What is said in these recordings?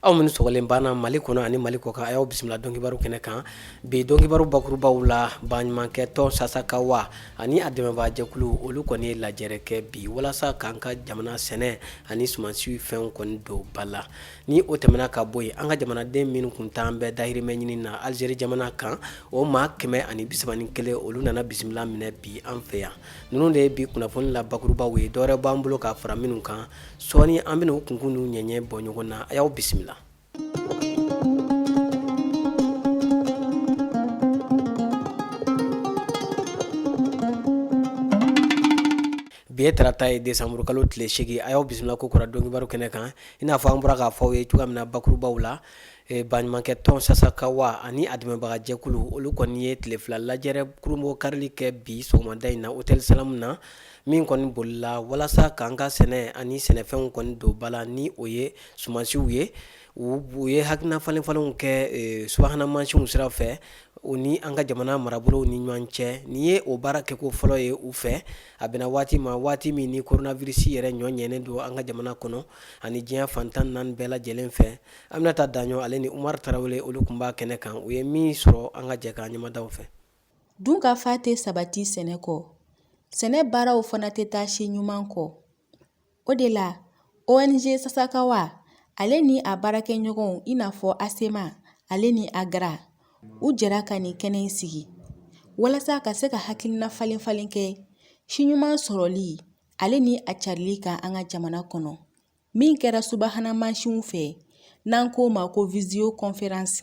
aw minnu sɔgɔlen b'an na mali kɔnɔ ani mali kɔkan a y'aw bisimila dɔnkibaru kɛnɛ kan bi dɔnkibaru bakurubaw la baɲumankɛ tɔn sasakawa ani a dɛmɛbaajɛkulu olu kɔni ye lajɛrɛ kɛ bi walasa k'an ka jamana sɛnɛ ani sumansiw fɛnw kɔni don ba la ni o tɛmɛna ka bɔ yen an ka jamanaden minnu kun taalen bɛ dahirimɛ ɲini na alizeri jamana kan o maa kɛmɛ ani bisaba ni kelen olu nana bisimila minɛ bi an fɛ yan ninnu de ye bi kunnafoni la bakurubaw ye dɔwɛrɛ b'an bolo k'a fara minnu kan sɔɔni an bɛn'u kunkun n'u ɲɛɲɛ bɔ ɲɔgɔn na a y'aw bisimila Bi ye tarata ye desanburu kalo tile segin a y'aw bisimila kokura dɔnkibaru kɛnɛ kan i n'a fɔ an bɔra k'a fɔ aw ye cogoya min na bakurubaw la baɲumankɛ tɔn sasakawa ani a dɛmɛbagajɛkulu olu kɔni ye tile fila lajɛrɛ kurunbonkarili kɛ bi sɔgɔmada in na otɛli salamu na min kɔni bolila walasa k'an ka sɛnɛ ani sɛnɛfɛnw kɔni don ba la ni o ye sumansiw ye u ye hakilina falenfalenw kɛ subahana mansinw sira fɛ u ni an ka jamana marabolo ni ɲɔgɔn cɛ nin ye o baara kɛko fɔlɔ ye u fɛ a bɛnna waati ma waati min ni koronavirisi yɛrɛ ɲɔɲɛnen don an ka jamana kɔnɔ ani diɲɛ fan tan naani bɛɛ lajɛlen fɛ aminata daɲɔ ale ni umar tarawele olu kun b'a kɛnɛ kan u ye min sɔrɔ an ka jɛ k'an ɲɛ mada u fɛ dunkafa tɛ sabati sɛnɛ kɔ sɛnɛ baaraw fana tɛ taa si ɲuman kɔ O de la ONG Sasakawa ale ni a baarakɛɲɔgɔnw i n'a fɔ ASSEMA ale ni AGRA u jɛra ka nin kɛnɛ in sigi walasa ka se ka hakilina falen falen kɛ si ɲuman sɔrɔli ale ni a carili kan an ka jamana kɔnɔ min kɛra subahana mansinw fɛ n'an k'o ma ko visio conférence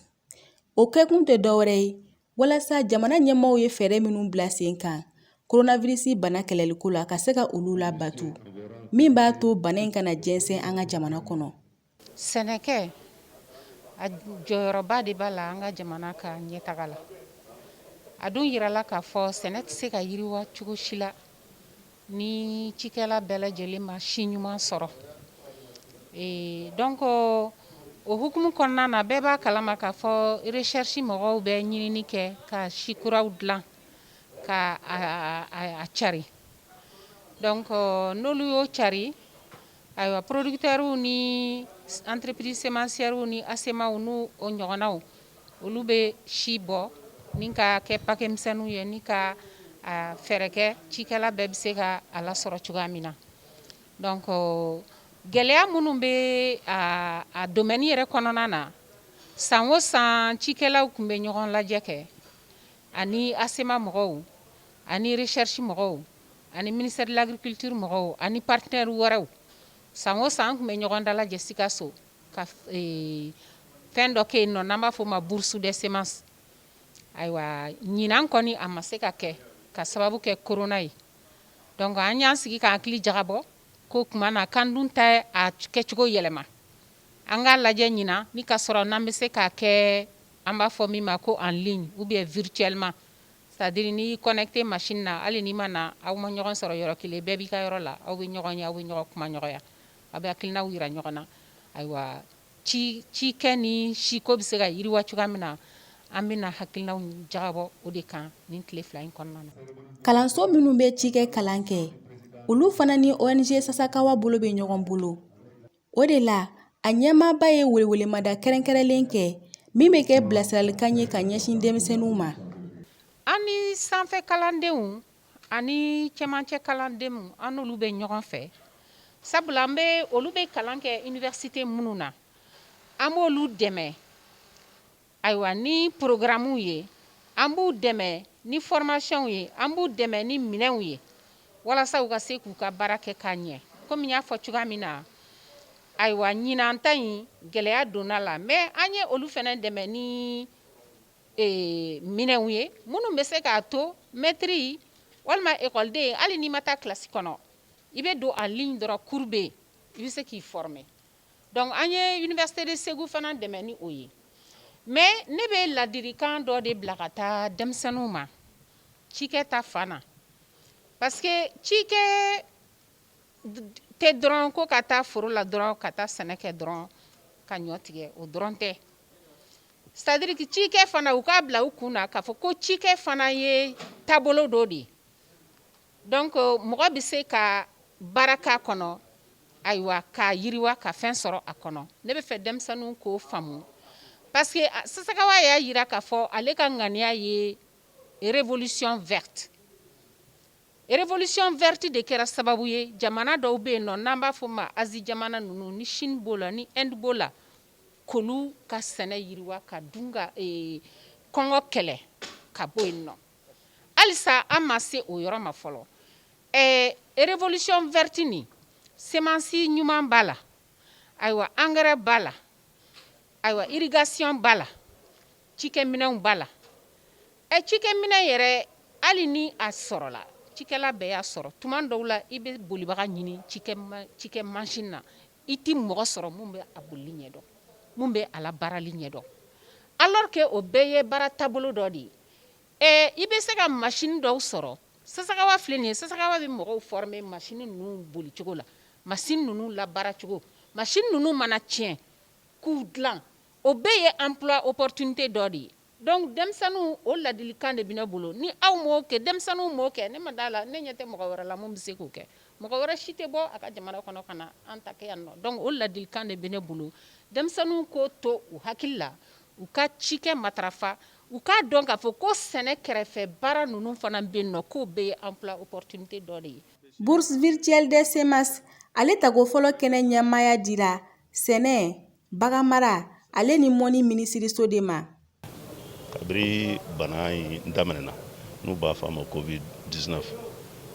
o kɛkun tɛ dɔwɛrɛ ye walasa jamana ɲɛmaaw ye fɛɛrɛ minnu bila sen kan koronavirisi bana kɛlɛliko la ka se ka olu labato min b'a to bana in kana jɛnsɛn an ka jamana kɔnɔ sɛnɛkɛ a jɔyɔrɔba de b'a la an ka jamana ka ɲɛtaga la a dun yirala k'a fɔ sɛnɛ tɛ se ka yiriwa cogo si la Ni cikɛla bɛɛ lajɛlen ma si ɲuman sɔrɔ ee donc o hukumu kɔnɔna na bɛɛ b'a kalama k'a fɔ recherche mɔgɔw bɛ ɲinini kɛ ka si kuraw dilan ka a cari donc n'olu y'o cari Ayiwa producteurw ni entreprise semencièrew ni ASEMAw n' o ɲɔgɔnnaw olu bɛ si bɔ ni ka kɛ pakɛmisɛnw ye ni ka fɛɛrɛ kɛ cikɛla bɛɛ bɛ se ka a lasɔrɔ cogoya min na dɔnku gɛlɛya minnu bɛ a domaine yɛrɛ kɔnɔna na san o san cikɛlaw tun bɛ ɲɔgɔn lajɛ kɛ ani ASEMA mɔgɔw ani recherche mɔgɔw ani ministère de l'agriculture mɔgɔw ani partenaire wɛrɛw san o san tun bɛ ɲɔgɔn dalajɛ Sikaso ka fɛn dɔ kɛ yen nɔ n'an b'a fɔ o ma bourse de semence ayiwa ɲinan kɔni a ma se ka kɛ ka sababu kɛ corona ye dɔnku an y'an sigi k'an hakili jagabɔ ko tuma na k'an dun tɛ a kɛcogo yɛlɛma an k'a lajɛ ɲinan ni ka sɔrɔ n'an bɛ se k'a kɛ an b'a fɔ min ma ko en ligne ou bien virtuellement C'est-à-dire n'i connecté machine na hali n'i ma na aw ma ɲɔgɔn sɔrɔ yɔrɔ kelen bɛɛ b'i ka yɔrɔ la aw bɛ ɲɔgɔn ye aw bɛ ɲɔgɔn kumaɲɔgɔnya aw bɛ hakilinaw yira ɲɔgɔn na ayiwa cikɛ ni siko bɛ se ka yiriwa cogoya min na an bɛna hakilinaw jagabɔ o de kan nin tile fila in kɔnɔna na kalanso minnu bɛ cikɛ kalan kɛ olu fana ni ONG Sasakawa bolo bɛ ɲɔgɔn bolo O de la a ɲɛmaaba ye welewelemada kɛrɛnkɛrɛnlen kɛ min bɛ kɛ bilasiralikan ye ka ɲɛsin denmisɛnninw ma an ni sanfɛ kalandenw ani cɛmancɛ kalandenw an n'olu bɛ ɲɔgɔn fɛ sabula an bɛ olu bɛ kalan kɛ université minnu na an b'olu dɛmɛ Ayiwa ni porokaramuw ye an b'u dɛmɛ ni formationw ye an b'u dɛmɛ ni minɛnw ye walasa u ka se k'u ka baara kɛ k'a ɲɛ kɔmi n y'a fɔ cogoya min na ayiwa ɲinan ta in gɛlɛya donna la mɛ an ye olu fana dɛmɛ ni minɛnw ye minnu bɛ se k'a to mɛtiri walima ekɔliden hali n'i ma taa kilasi kɔnɔ i bɛ don en ligne dɔrɔn cours bɛ yen i bɛ se k'i former Dɔnku an ye université de Segu fana dɛmɛ ni o ye mɛ ne bɛ ladirikan dɔ de bila ka taa denmisɛnninw ma cikɛ ta fan na parce que cikɛ tɛ dɔrɔn ko ka taa foro la dɔrɔn ka taa sɛnɛ kɛ dɔrɔn ka ɲɔ tigɛ o dɔrɔn tɛ c'est-à-dire que cikɛ fana u k'a bila u kun na k'a fɔ ko cikɛ fana ye taabolo dɔ de ye Dɔnku mɔgɔ bɛ se ka baara k'a kɔnɔ ayiwa k'a yiriwa ka fɛn sɔrɔ a kɔnɔ ne bɛ fɛ denmisɛnninw k'o faamu parce que Sasakawa y'a yira k'a fɔ ale ka ŋaniya ye révolution verte révolution verte de kɛra sababu ye jamana dɔw bɛ yen nɔ n'an b'a fɔ ma Asie jamana ninnu ni Chine b'o la ni Inde b'o la k'olu ka sɛnɛ yiriwa ka dun ka kɔngɔ kɛlɛ ka bɔ yen nɔ halisa an ma se o yɔrɔ ma fɔlɔ ɛɛ révolution verte nin semansi ɲuman b'a la ayiwa angɛrɛ b'a la ayiwa irrigation b'a la cikɛminɛnw b'a la ɛ cikɛminɛn yɛrɛ hali ni a sɔrɔla cikɛla bɛɛ y'a sɔrɔ tuma dɔw la i bɛ bolibaga ɲini cikɛ machine na i tɛ mɔgɔ sɔrɔ mun bɛ a boli ɲɛdɔn mun bɛ a labaarali ɲɛdɔn alors que o bɛɛ ye baara taabolo dɔ de ye I bɛ se ka machine dɔw sɔrɔ sasakawa filɛ nin ye sasakawa bɛ mɔgɔw former machine ninnu bolicogo la machine ninnu labaaracogo machine ninnu mana tiɲɛ k'u dilan o bɛɛ ye emploi opportunité dɔ de ye donc denmisɛnninw o ladilikan de bɛ ne bolo ni aw m'o kɛ denmisɛnninw m'o kɛ ne ma d'a la ne ɲɛ tɛ mɔgɔ wɛrɛ la mun bɛ se k'o kɛ mɔgɔ wɛrɛ si tɛ bɔ a ka jamana kɔnɔ ka na an ta kɛ yan nɔ donc o ladilikan de bɛ ne bolo denmisɛnninw k'o to u hakili la u ka cikɛ matarafa u k'a dɔn k'a fɔ ko sɛnɛ kɛrɛfɛ baara ninnu fana bɛ yen nɔ k'o bɛɛ ye emploi opportunité dɔ de ye bourse virtuelle des semences ale tago fɔlɔ kɛnɛ ɲɛmaaya dira sɛnɛ baganmara ale ni mɔnni minisiriso de ma kabiri bana in daminɛna n'u b'a fɔ a ma covid 19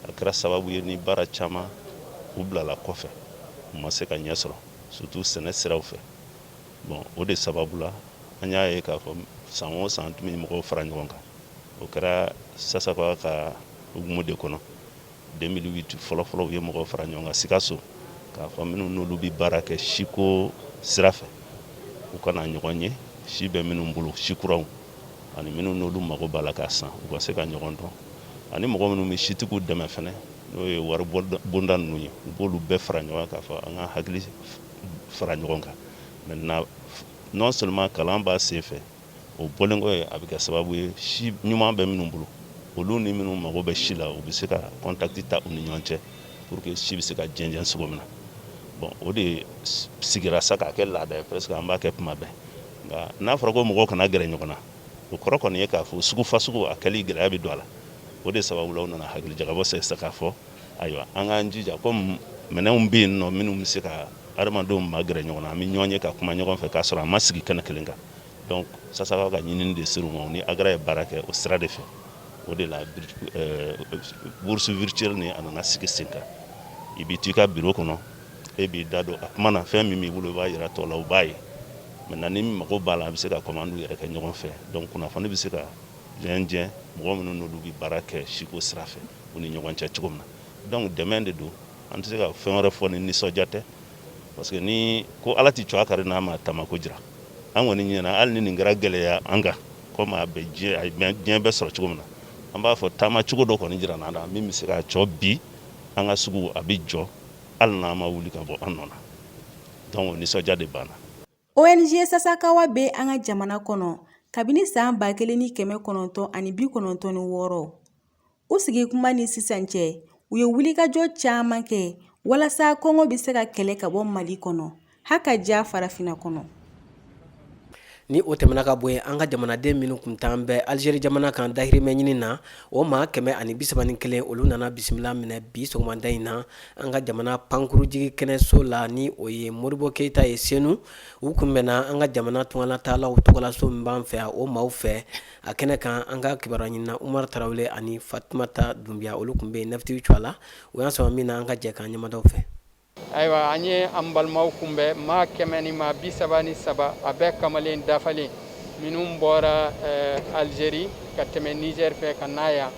a kɛra sababu ye ni baara caman u bilala kɔfɛ u ma se ka ɲɛ sɔrɔ surtout sɛnɛ siraw fɛ bon o de sababu la an y'a ye k'a fɔ san o san tun bɛ mɔgɔw fara ɲɔgɔn kan o kɛra sasakawa ka hukumu de kɔnɔ 2008 fɔlɔfɔlɔ u ye mɔgɔw fara ɲɔgɔn kan sikaso k'a fɔ minnu n'olu bɛ baara kɛ siko sira fɛ u ka na ɲɔgɔn ye si bɛ minnu bolo si kuraw ani minnu n'olu mago b'a la k'a san u ka se ka ɲɔgɔn dɔn ani mɔgɔ minnu bɛ sitigiw dɛmɛ fana n'o ye wari bonda ninnu ye u b'olu bɛɛ fara ɲɔgɔn kan k'a fɔ an ka hakili fara ɲɔgɔn kan maintenant non seulement kalan b'a sen fɛ o bɔlen kɔ ye a bɛ kɛ sababu ye si ɲuman bɛ minnu bolo olu ni minnu mago bɛ si la u bɛ se ka contact ta u ni ɲɔgɔn cɛ pour que si bɛ se ka jɛnsɛn cogo min na bon o de sigira sa k'a kɛ laada ye parce que an b'a kɛ tuma bɛɛ nka n'a fɔra ko mɔgɔw kana gɛrɛ ɲɔgɔn na o kɔrɔ kɔni ye k'a fɔ sugu fa sugu a kɛli gɛlɛya bɛ don a la o de sababu la u nana hakili jagabɔ sa k'a fɔ Ayiwa an k'an jija comme minɛnw bɛ yen nɔ minnu bɛ se ka adamadenw ma gɛrɛ ɲɔgɔn na an bɛ ɲɔgɔn ye ka kuma ɲɔgɔn fɛ k'a sɔrɔ an ma sigi kɛnɛ kelen kan donc sasakawa ka ɲinini de ser'u ma ni agra ye baara kɛ o sira de fɛ o de la bourse virtuelle ni a nana sigi sen kan i bɛ to i ka biro kɔnɔ e b'i da don a kuma na fɛn min b'i bolo i b'a jira tɔw la u b'a ye maintenant ni mago b'a la a bɛ se ka commande yɛrɛ kɛ ɲɔgɔn fɛ donc kunnafoni bɛ se ka jɛnsɛn mɔgɔ minnu n'olu bɛ baara kɛ siko sira fɛ u ni ɲɔgɔn cɛ cogo min na donc dɛmɛ de don an tɛ se ka fɛn wɛrɛ fɔ ni nisɔndiya tɛ parce que ni ko ala tɛ cogoya kari n'a ma taamako jira an kɔni ɲɛna hali ni nin kɛra gɛlɛya ye an kan komi a bɛ diɲɛ bɛɛ sɔrɔ cogo min na an b'a fɔ taama cogo dɔ kɔni jira an na min bɛ se ka cɔ bi an ka sugu a bɛ jɔ hali n'an ma wuli ka bɔ an nɔ donc nisɔndiya de b'an na ONG Sasakawa bɛ an ka jamana kɔnɔ kabini san ba kelen ni kɛmɛ kɔnɔntɔn ani bi kɔnɔntɔn ni wɔɔrɔ u sigi kuma ni sisan cɛ u ye wulikajɔ caman kɛ walasa kɔngɔ bɛ se ka kɛlɛ ka bɔ mali kɔnɔ ha ka diya farafinna kɔnɔ ni o tɛmɛna ka bɔ yen an ka jamanaden minnu kun taalen bɛ alizeri jamana kan dahirimɛ ɲini na o maa kɛmɛ ani bi saba ni kelen olu nana bisimila minɛ bi sɔgɔmada in na an ka jamana pankurunjigi kɛnɛso la ni o ye modibo keyita ye senu u kun bɛnna an ka jamana tungalataalaw tɔgɔlaso min b'an fɛ o maaw fɛ a kɛnɛ kan an ka kibaruya ɲinina umar tarawele ani fatumata dunbiya olu kun bɛ yen natigiw cogoya a la u y'an sama min na an ka jɛ k'an ɲɛmada o fɛ ayiwa an ye an balimaw kunbɛn maa kɛmɛ ni maa bi saba ni saba a bɛɛ kamalen dafalen minnu bɔra eh, Algérie ka tɛmɛ Niger fɛ ka na yan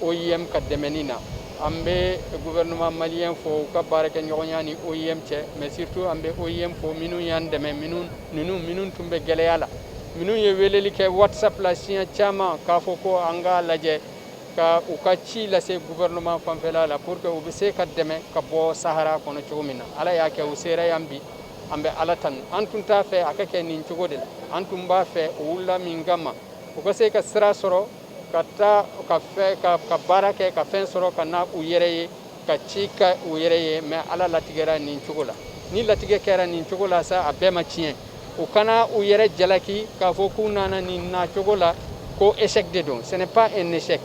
OIM ka dɛmɛni na an bɛ gouvernement malien fo u ka baarakɛɲɔgɔnya ni OIM cɛ mais surtout an bɛ OIM fo minnu y'an dɛmɛ minnu ninnu minnu tun bɛ gɛlɛya la minnu ye weleli kɛ WhatsApp la siɲɛ caman k'a fɔ ko an k'a lajɛ ka u ka ci lase gouvernement fanfɛla la pour que u bɛ se ka dɛmɛ ka bɔ Sahara kɔnɔ cogo min na Ala y'a kɛ u sera yan bi an bɛ ala tanu an tun t'a fɛ a ka kɛ nin cogo de la an tun b'a fɛ u wulila min kama u ka se ka sira sɔrɔ ka taa ka baara kɛ ka fɛn sɔrɔ ka na u yɛrɛ ye ka ci kɛ u yɛrɛ ye mais ala latigɛra nin cogo la ni latigɛ kɛra nin cogo la sa a bɛɛ ma tiɲɛ u kana u yɛrɛ jalaki k'a fɔ k'u nana nin na cogo la ko échec de don ce n'est pas un échec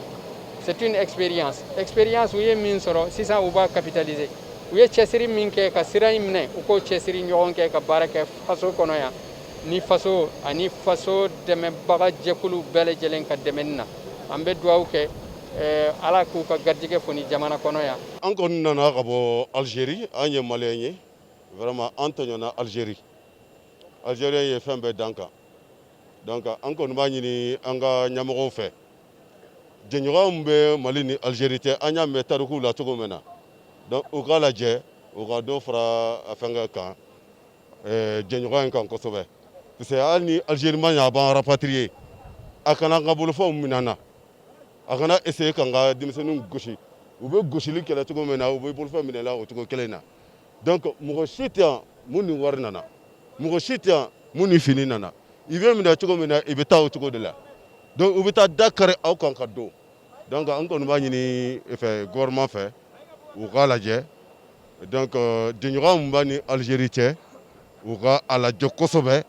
C'est une expérience. Expérience u ye min sɔrɔ sisan u b'a capitaliser. U ye cɛsiri min kɛ ka sira in minɛ u k'o cɛsiri ɲɔgɔn kɛ ka baara kɛ faso kɔnɔ yan ni faso ani faso dɛmɛbaga jɛkulu bɛɛ lajɛlen ka dɛmɛni na an bɛ dugawu kɛ eh, ala k'u ka garijɛgɛ foni jamana kɔnɔ yan an kɔni nana ka bɔ algérie an ye malien ye vraiment an tɔɲɔna algérie algérien ye fɛn bɛɛ d'an kan donc an kɔni b'a ɲini an ka ɲɛmɔgɔw fɛ jɛɲɔgɔn min bɛ mali ni algérie cɛ an y'a mɛn tarikuw la cogo min na donc u k'a lajɛ u ka dɔ fara a fɛnkɛ kan eh, jɛɲɔgɔn in kan kosɛbɛ parce que hali ni algérie ma ɲa a b'an rapatrier a kana an ka bolofɛnw min'an na a kana essayer k'an ka denmisɛnninw gosi u bɛ gosili kɛ la cogo min na u bɛ bolofɛn minɛ la o cogo kelen na donc mɔgɔ si tɛ yan mun ni wari nana mɔgɔ si tɛ yan mun ni fini nana i bɛ minɛ cogo min na i bɛ taa o cogo de la donc u bɛ taa da kari aw kan ka don donc an kɔni b'a ɲini fɛ gouvernement fɛ u k'a lajɛ donc euh, jɛɲɔgɔn mun b'a ni Algérie cɛ u ka a lajɛ kosɛbɛ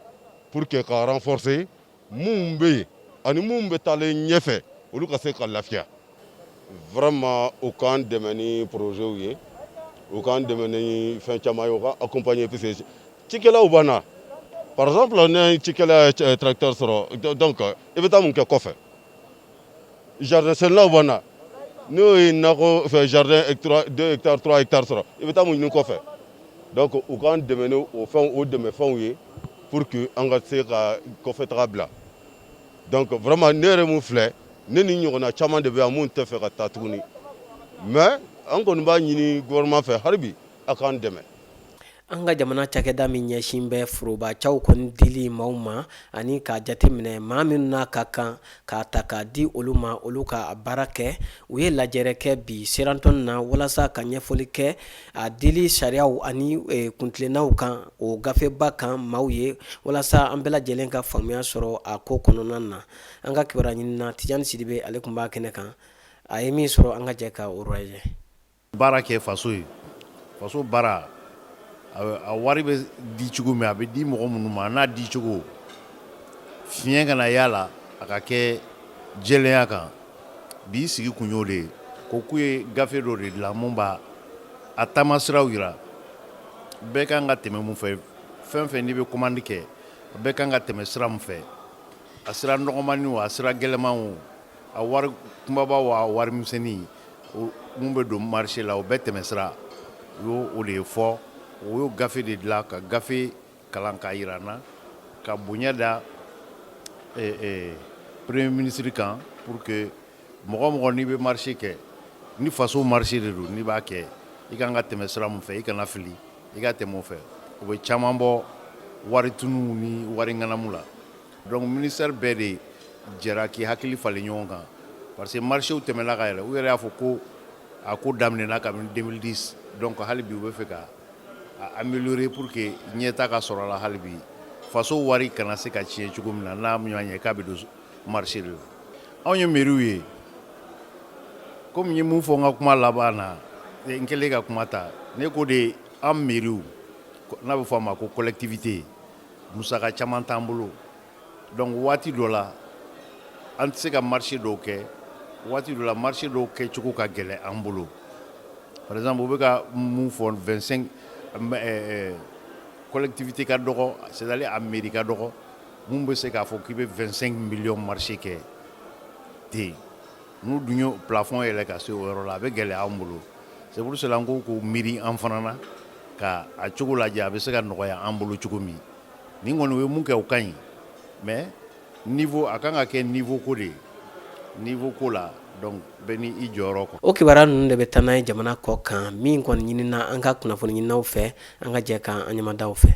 pour que ka renforcer minnu bɛ yen ani minnu bɛ taalen ɲɛfɛ olu ka se ka lafiya vraiment u k'an dɛmɛ ni projets ye u k'an dɛmɛ ni fɛn caman ye u ka accompagner parce que cikɛlaw b'an na par exemple n'e cikɛla ye tracteur sɔrɔ donc i bɛ taa mun kɛ kɔfɛ Jardin sɛnɛlaw b'an na n'o ye nakɔ fɛ jardin 2 hectares 3 hectares sɔrɔ i bɛ taa mun ɲini kɔfɛ donc u k'an dɛmɛ ni o fɛnw o dɛmɛ fɛnw ye pour que an ka se ka kɔfɛtaga bila donc vraiment ne yɛrɛ mun filɛ ne ni n ɲɔgɔnna caman de bɛ yan mun tɛ fɛ ka taa tuguni mais an kɔni b'a ɲini gouvernement fɛ hali bi a k'an dɛmɛ. An ka jamana cakɛda min ɲɛsin bɛ forobaciw kɔni dili maaw ma ani k'a jateminɛ maa minnu n'a ka kan k'a ta k'a di olu ma olu ka baara kɛ u ye lajɛrɛ kɛ bi Sheraton na walasa ka ɲɛfɔli kɛ a dili sariyaw ani kuntilennaw kan o gafeba kan maaw ye walasa an bɛɛ lajɛlen ka faamuya sɔrɔ a ko kɔnɔna na an ka kibaru ɲinina Tijani Sidibe ale tun b'a kɛnɛ kan a ye min sɔrɔ an ka jɛ ka o lajɛ baara kɛ faso ye faso baara a wari bɛ di cogo min a bɛ di mɔgɔ minnu ma n'a di cogo fiɲɛ kana y'a la a ka kɛ jɛlenya kan bi sigi kun y'o de ye ko k'u ye gafe dɔ de dilan mun b'a a taamasiraw yira bɛɛ kan ka tɛmɛ mun fɛ fɛn fɛn n'i bɛ commande kɛ bɛɛ kan ka tɛmɛ sira mun fɛ a sira nɔgɔmani o a sira gɛlɛman o A wari kunbaba o a wari misɛnnin mun bɛ don marché la o bɛɛ tɛmɛsira u y'o de ɲɛfɔ u y'o gafe de dilan ka gafe kalan k'a yira an na ka bonya da premier ministre kan pour que mɔgɔ mɔgɔ n'i bɛ marché kɛ ni faso marché de don n'i b'a kɛ i kan ka tɛmɛ sira mun fɛ i kana fili i ka tɛmɛ o fɛ o bɛ caman bɔ wari tunu ni wari ŋanamu la Donc ministère bɛɛ de jɛra k'i hakili falen ɲɔgɔn kan parce que marchéw tɛmɛna ka yɛlɛ u yɛrɛ y'a fɔ ko a ko daminɛna kabini 2010 donc hali bi u bɛ fɛ ka a améliorer pour que ɲɛta ka sɔrɔ a la hali bi faso wari kana se ka tiɲɛ cogo min na n'a ɲɔgɔn ye k'a bɛ don marché de la anw ye mairies ye komi n ye mun fɔ n ka kuma laban na n kɛlen ka kuma ta ne ko de an mairies n'a bɛ fɔ a ma ko collectivité musaka caman t'an bolo donc waati dɔ la an tɛ se ka marché dɔw kɛ waati dɔ la marché dɔw kɛcogo ka gɛlɛn an bolo par exemple u bɛ ka mun fɔ 25 collectivité ka dɔgɔ c'est-à-dire a mairie ka dɔgɔ mun bɛ se k'a fɔ k'i bɛ 25 millions marché kɛ ten N'u dun ye plafond yɛlɛ ka se o yɔrɔ la a bɛ gɛlɛya an bolo c'est pour cela n ko k'u miiri an fana na ka a cogo lajɛ a bɛ se ka nɔgɔya an bolo cogo min nin kɔni u ye mun kɛ o ka ɲi mais niveau a kan ka kɛ niveau ko de ye niveau ko la donc bɛɛ ni i jɔyɔrɔ kɔ. O kibaruya ninnu de bɛ taa n'an ye jamana kɔkan min kɔni ɲinina an ka kunnafoni ɲininaw fɛ an ka jɛ k'an ɲɛmada u fɛ.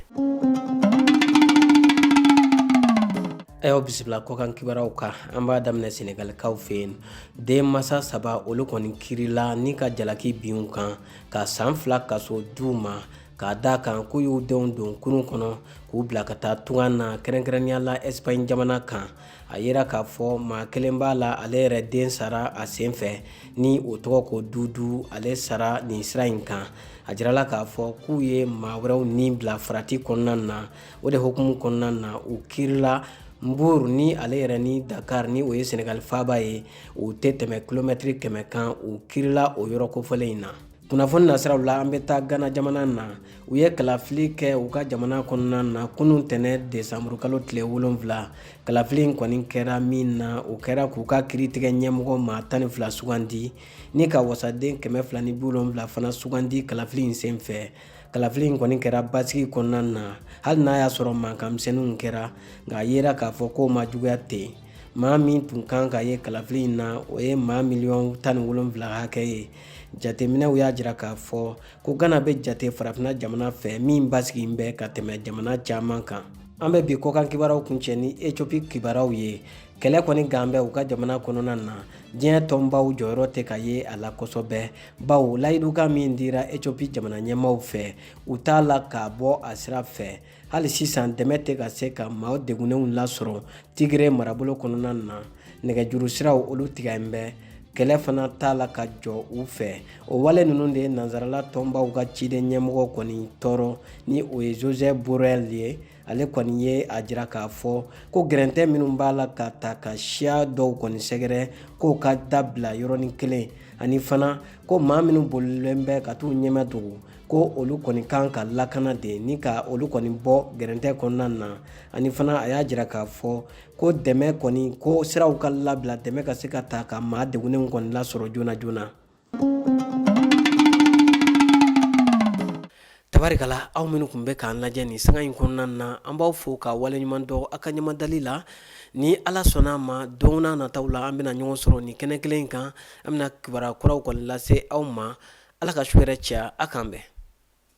Ayiwa bisimila kɔkan kibaruyaw kan an b'a daminɛ sɛnɛgalikaw fɛ yen denmasa saba olu kɔni kirila ni ka jalaki bin u kan ka san fila kaso d'u ma k'a d'a kan k'u y'u denw don kurun kɔnɔ k'u bila ka taa tunga na kɛrɛnkɛrɛnnenya la ɛsipaɲi jamana kan a yera k'a fɔ maa kelen b'a la ale yɛrɛ den sara a sen fɛ ni o tɔgɔ ko dudu ale sara nin sira in kan a jirala k'a fɔ k'u ye maa wɛrɛw ni bila farati kɔnɔna na o de hukumu kɔnɔna na u kirila Mbour ni ale yɛrɛ ni Dakar ni o ye Senegal faaba ye u tɛ tɛmɛ kilomɛtiri kɛmɛ kan u kirila o yɔrɔ kofɔlen in na kunnafoni nasiraw la an bɛ taa gana jamana na u ye kalafili kɛ u ka jamana kɔnɔna na kunun tɛnɛ desanburu kalo tile wolonfila kalafili in kɔni kɛra min na o kɛra k'u ka kiritigɛ ɲɛmɔgɔ maa tan ni fila sugandi ni ka wasaden kɛmɛ fila ni bi wolonfila fana sugandi kalafili in senfɛ kalafili in kɔni kɛra basigi kɔnɔna na hali n'a y'a sɔrɔ mankanmisɛnninw kɛra nka a yera k'a fɔ k'o ma juguya ten maa min tun kan ka ye kalafili in na o ye maa miliyɔn tan ni wolonfila hakɛ ye jateminɛw y'a jira k'a fɔ ko gana bɛ jate farafinna jamana fɛ min basigilen bɛ ka tɛmɛ jamana caman kan an bɛ bi kɔkan kibaruyaw kuncɛ ni ethiopie kibaruyaw ye kɛlɛ kɔni gannen bɛ u ka jamana kɔnɔna na diɲɛ tɔnbaw jɔyɔrɔ tɛ ka ye a la kosɛbɛ bawo layidukan min dira etiopi jamana ɲɛmaaw fɛ u t'a la k'a bɔ a sira fɛ hali sisan dɛmɛ tɛ ka se ka maaw degunnenw lasɔrɔ tigire marabolo kɔnɔna na nɛgɛjuru siraw olu tigɛlen bɛ kɛlɛ fana t'a la ka jɔ u fɛ o wale ninnu de ye nansarala tɔnbaw ka ciden ɲɛmɔgɔ kɔni tɔɔrɔ ni o ye joseph borrell ye ale kɔni ye a jira k'a fɔ ko gɛrɛntɛ minnu b'a la ka taa ka siya dɔw kɔni sɛgɛrɛ k'o ka dabila yɔrɔnin kelen ani fana ko maa minnu bolilen bɛ ka t'u ɲɛmadogo ko olu kɔni kan ka lakana de ni ka olu kɔni bɔ gɛrɛntɛ kɔnɔna na ani fana a y'a jira k'a fɔ ko dɛmɛ kɔni ko siraw ka labila dɛmɛ ka se ka taa ka maa degunnenw kɔni lasɔrɔ joona joona tabarikala aw minnu tun bɛ k'an lajɛ nin sanga in kɔnɔna na an b'aw fo ka waleɲuman dɔn aw ka ɲamadali la ni ala sɔnna a ma don n'a nataw la an bɛna ɲɔgɔn sɔrɔ nin kɛnɛ kelen in kan an bɛna kibaruya kuraw kɔni lase aw ma ala ka su hɛrɛ caya a k'an bɛn